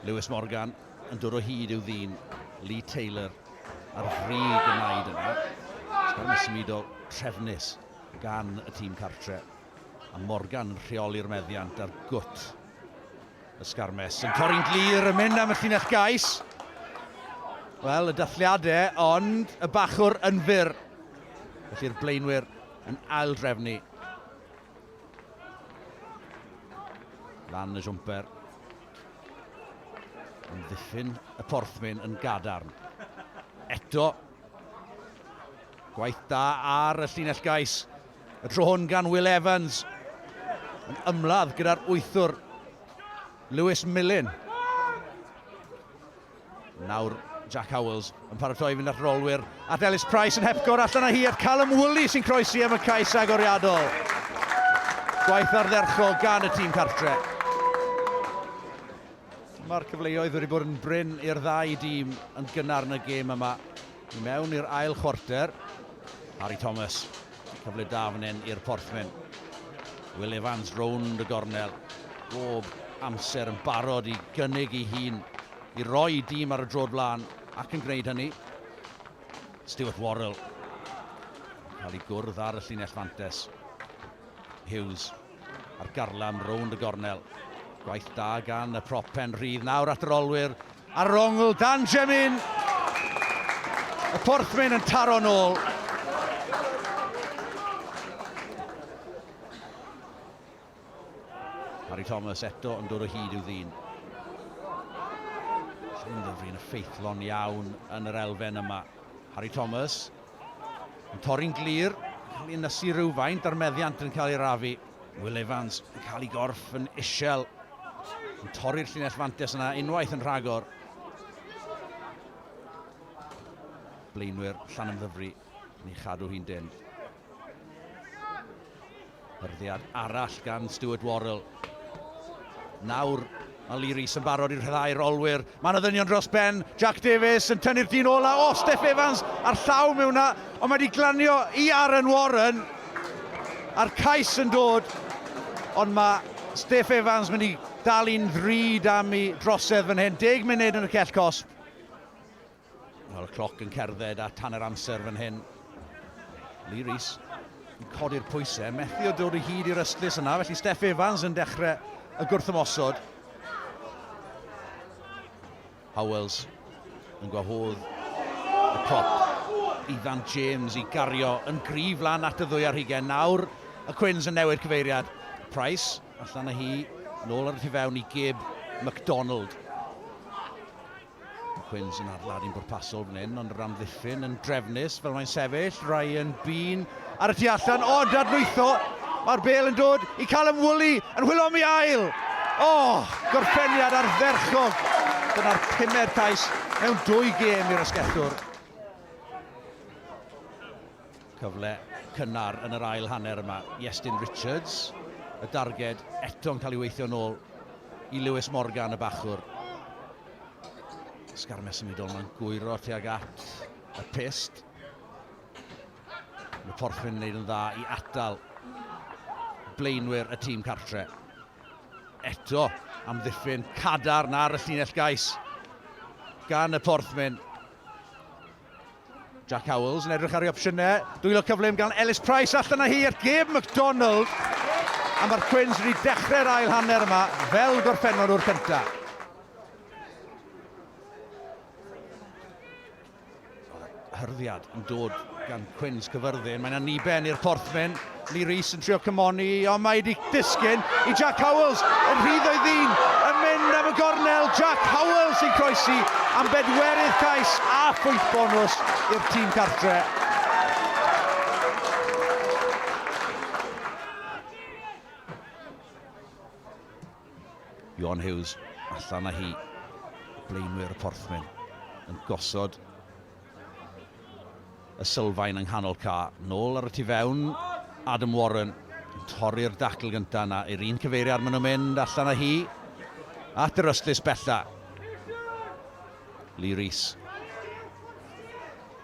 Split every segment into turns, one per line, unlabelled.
Lewis Morgan yn dod o hyd i'w ddyn, Lee Taylor ar frig y naid yna. Sgwrn y symudo trefnus gan y tîm cartre. A Morgan yn rheoli'r meddiant ar gwt y sgarmes. Yn torri'n glir yn mynd am y llinell gais. Wel, y dathliadau, ond y bachwr yn fyr. Felly'r blaenwyr yn ail drefnu. Lan y siwmper. Yn ddiffyn y porthmyn yn gadarn. Eto. Gwaith da ar y llinell gais. Y tro hwn gan Will Evans. Yn ymladd gyda'r wythwr Lewis Millen. Nawr Jack Howells yn paratoi i fynd at rolwyr at Ellis Price yn hepgor allan â hi at Callum Woolley sy'n croesi am y cais agoriadol. Gwaith ardderchog gan y tîm cartre. Mae'r cyfleoedd wedi bod yn brin i'r ddau dîm yn gynnar yn y gêm yma. I mewn i'r ail chwarter, Harry Thomas, cyfle da fan hyn i'r Porthmen. Will Evans rownd y gornel, bob amser yn barod i gynnig ei hun, i roi i dîm ar y drod blaen, ac yn gwneud hynny. Stuart Worrell, cael ei gwrdd ar y llinell fantes. Hughes. A'r garlam rownd y gornel. Gwaith da gan y prop pen rhydd. Nawr at yr olwyr ar yr ongl. Dan Jemin! Y porthmyn yn taro'n ôl. Harry Thomas eto yn dod o hyd i'w ddyn. Llwynfryn y ffeithlon iawn yn yr elfen yma. Harry Thomas Yn torri'n glir, yn cael ei ynysu rywfaint a'r meddiant yn cael ei rafu. Will Evans yn cael ei gorff yn isel. Yn torri'r llinell fantes yna unwaith yn rhagor. Blaenwyr Llanymddyfri yn ei chadw hi'n dyn. Hyrddiad arall gan Stuart Worrell. Nawr mae Lee Rees yn barod i'r rhyddhau'r olwyr. Mae yna ddynion dros ben. Jack Davies yn tynnu'r dyn ola. O, oh, Steph Evans ar llaw mewn na. Ond mae wedi glanio i Aaron Warren. A'r cais yn dod. Ond mae Steph Evans mynd i dal i'n ddrud am i drosedd fan hyn. Deg munud yn y cell cosp. Mae'r cloc yn cerdded at hanner amser fan hyn. Lee Rees yn codi'r pwysau, methu o dod o hyd i'r ystlys yna, felly Steff Evans yn dechrau y gwrthymosod. Howells yn gwahodd y cop i Ddant James i gario yn grif lan at y ddwy ar hugen. Nawr y Cwins yn newid cyfeiriad. Price allan â hi, nôl ar y tu fewn i Gib McDonald. Quins yn adladu'n bwrpasol fan hyn, ond yr amddiffyn yn drefnus fel mae'n sefyll. Ryan Bean ar y tu allan, o, dadlwytho. Mae'r bel yn dod i Callum Woolley yn hwylo am ei ail. O, oh, gorffeniad ardderchog. Dyna'r pumed cais mewn dwy gêm i'r asgellwr. Cyfle cynnar yn yr ail hanner yma. Iestyn Richards, y darged eto'n cael ei weithio'n ôl i Lewis Morgan, y bachwr. Sgarmau symudol mae'n gwyro tuag at y pist. Mae Porthwyn yn gwneud yn dda i atal blaenwyr y tîm cartre. Eto am ddiffyn cadarn ar y llinell gais gan y Porthwyn. Jack Howells yn edrych ar ei opsiynau. Dwylo cyflym gan Ellis Price allan â hi at Gabe McDonald. A mae'r Quins wedi dechrau'r ail hanner yma fel gorffennol o'r cyntaf. Hyrddiad yn dod gan Quins cyfyrddin. Mae'n aniben i'r porthmyn. Lee Rees yn trio cymoni, ond mae wedi disgyn i Jack Howells yn rhydd o'i ddyn, yn mynd am y gornel, Jack Howells sy'n croesi am bedwerydd cais a phwynt bonws i'r tîm cartre. Iwan Hughes allan â hi. Blaenwyr y Porthmyn yn gosod Y sylfaen yng nghanol ca. Nôl ar y tu fewn, Adam Warren yn torri'r dacl gyntaf yna i'r un cyfeiriad maen nhw'n mynd allan â hi at yr ystlys bella. Lee Rees.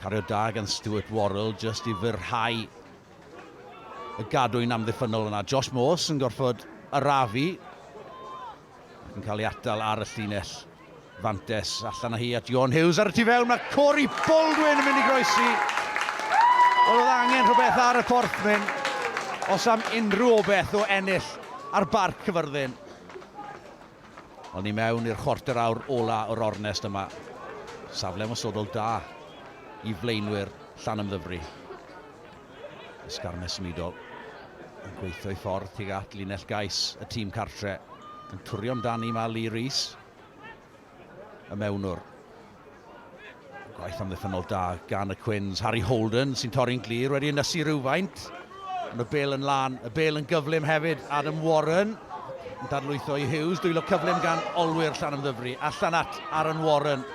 Cario da gan Stuart Worrell just i fyrhau y gadwyn amddiffynnol yna. Josh Morse yn gorfod arafu ac yn cael ei atal ar y llinell. Fantes allan â hi at Joan Hughes ar y tu fewn, mae Cory Baldwin yn mynd i groesi. Wel, oedd angen rhywbeth ar y porthmyn os am unrhyw obeth o ennill ar Barc Cyfyrddin. Ond ni mewn i'r chwarter awr ola o'r ornest yma. Safle ymosodol da i flaenwyr Llanymddyfri. Ysgarmes symudol yn gweithio ei ffordd tuag at linell gais y tîm cartre, yn twrio amdani mae Lee Rees, y mewnwr. Gwaith amddiffynol da gan y Cwins, Harry Holden sy'n torri'n glir, wedi ynysu rhywfaint. Ond y bel yn lan, y bel yn gyflym hefyd, Adam Warren yn dadlwytho i Hughes, dwylo cyflym gan olwyr llan ymddyfru, allan at Aaron Warren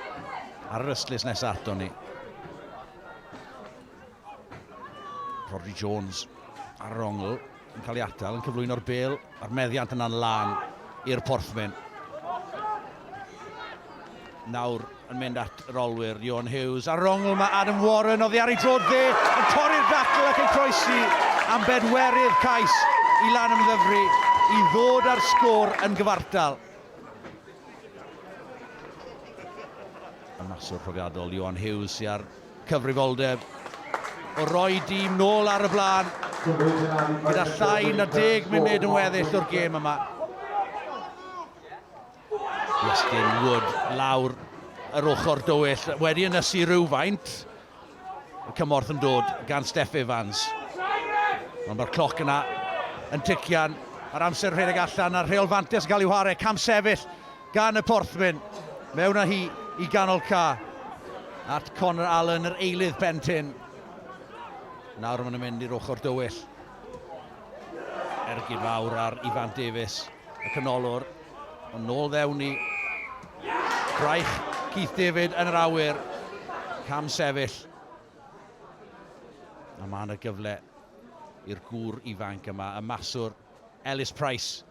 ar yr ystlys nesaf ato ni. Rodri Jones ar yr ongl yn cael ei atal, yn cyflwyno'r bel, a'r meddiant yna'n lan i'r porthmyn. Nawr yn mynd at yr olwyr, Johan Hughes ar yr ongl, mae Adam Warren oddi ar ei drod dde, yn torri'r dacl ac yn croesi am bedwerydd cais i lan ymddyfru i ddod â'r sgôr yn gyfartal. Y maswr profiadol, Johan Hughes, sy'n ar Cyfrifoldeb o roi dîm nôl ar y blaen gyda llai na deg munud yn weddill o'r gêm yma. Iestyn Wood lawr yr ochr dywyll wedi ynysu rhywfaint. Y cymorth yn dod gan Steff Evans. Ond mae'r cloc yna yn tician. Mae'r amser rhedeg allan a'r rheol fantes yn cael ei whare. Cam sefyll gan y porthwyn, mewn â hi i ganol ca, at Connor Allen, yr eilydd pen tin. Nawr maen nhw'n mynd i'r ochr dywyll. Ergyd fawr ar Ifan Davies, y canolwr, ond nôl ddewn i. Braich Keith David yn yr awyr, cam sefyll. A mae yna gyfle i'r gŵr ifanc yma, y maswr Ellis Price,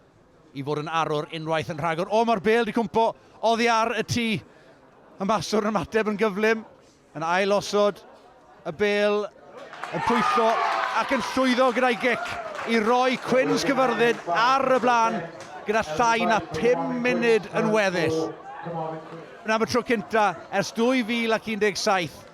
i fod yn arwr unwaith yn rhagor. O, mae'r bêl di cwmpo oddi ar y tŷ. Y maswr yn ymateb yn gyflym, yn ail osod y bêl, yn pwytho ac yn llwyddo gyda'i gic i roi Cwins Cyfyrddin ar y blaen gyda llai na 5 munud yn weddill. Yn am y tro cynta ers 2017,